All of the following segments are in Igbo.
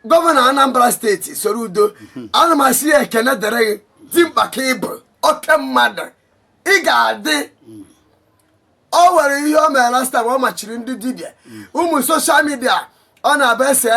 gọvanọ Anambra State Soludo ana m asị ya ekene dịrị gị dimkpa ka ị bụ oke mmadụ ị ga-adị o nwere ihe o mere last time ọ machiri ndị dibịa ụmụ social media ọ na-abụ ese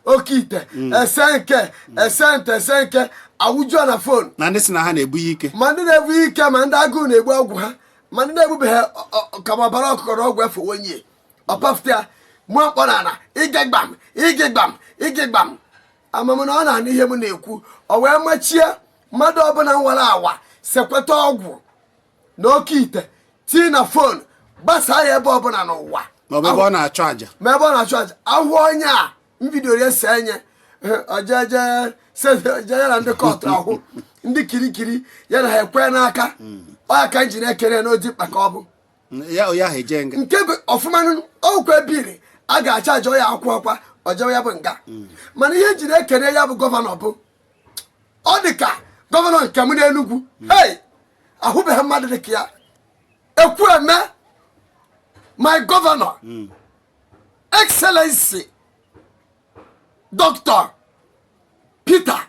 oke ite ese nke ese nte ese nke a wụjuo na fon na ndị si na ha na-ebu ya ike ma ndị na-ebu ike ma ndị agụụ na-egbu ọgwụ ha ma ndị na-ebubeghị ọ- ọ- kama ọbara ọkụkọ na ọgwụ efe onye ọ pafute ya mụ akpọrọ ala ige gbam ige gbam ige gbam ama m na ọ na-anụ ihe m na-ekwu ọ wee machie mmadụ ọbụla nwara anwa sekweta ọgwụ na oke ite tii na fon gbasaa ya ebe ọbụla n'ụwa ma ọ bụ ebe ọ na-achụ àjà ma ebe ọ na-achụ aja ahụ onye a mbido ya si enye ojeje ya na ndị kọtụ ahụ ndị kirikiri ya na ha ekwe n'aka ọ ya ka m ji na-ekene na dimkpa ka ọ bụ nke bụ ọfụma ọkwa ebiri a ga-acha ajọ ya akwụ ọkwa ọjọọ ya bụ nga hmm. mana ihe m ji na-ekene ya bụ gọvanọ bụ ọ dị ka gọvanọ nke m n'Enugwu hmm. hey ahụbeghị mmadụ dị ka ya Ekwueme my gọvanọ hmm. excellency Doctor Peter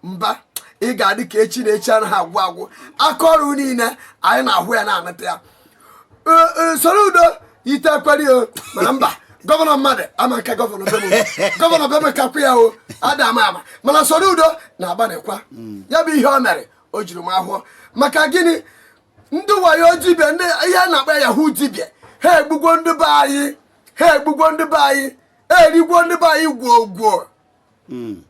Mbah ị ga-adị ka echi na echi anaghị agwụ agwụ aka ọrụ niile anyị na-ahụ ya na-anụta ya Soludo ite ekwere o mana Mbah gọvanọ mmadụ ama nke gọvanọ be m o gọvanọ be m o kakwa ya o ada ama ama mana Soludo na-agbanịkwa hmm. ya bụ ihe o mere o juru m ahọ maka gịnị ndị wayo dibịa ndị ihe a na-akpọ yahoo dibịa ha egbugwo ndị be anyị ha egbugwo ndị be anyị erigwo ndị be anyị gwuo gwuo Mm.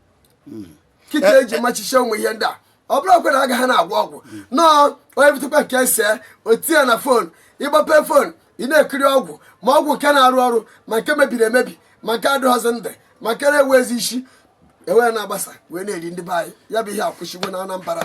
Mm. kịta e ji machiche ụmụ ihe ndị a ọ bụrọkwa na a gaha na-agwọ ọgwụ no onye butekwa nke ese o tie na fon ị gbape fon ị na-ekiri ọgwụ ma ọgwụ nke na-arụ ọrụ ma nke mebiri emebi ma nke adịghọzi ndụ ma nke na-enweghịzi isi e wee na-agbasa wee na-eri ndị be anyị ya bụ ihe akwụsịgwo na Anambra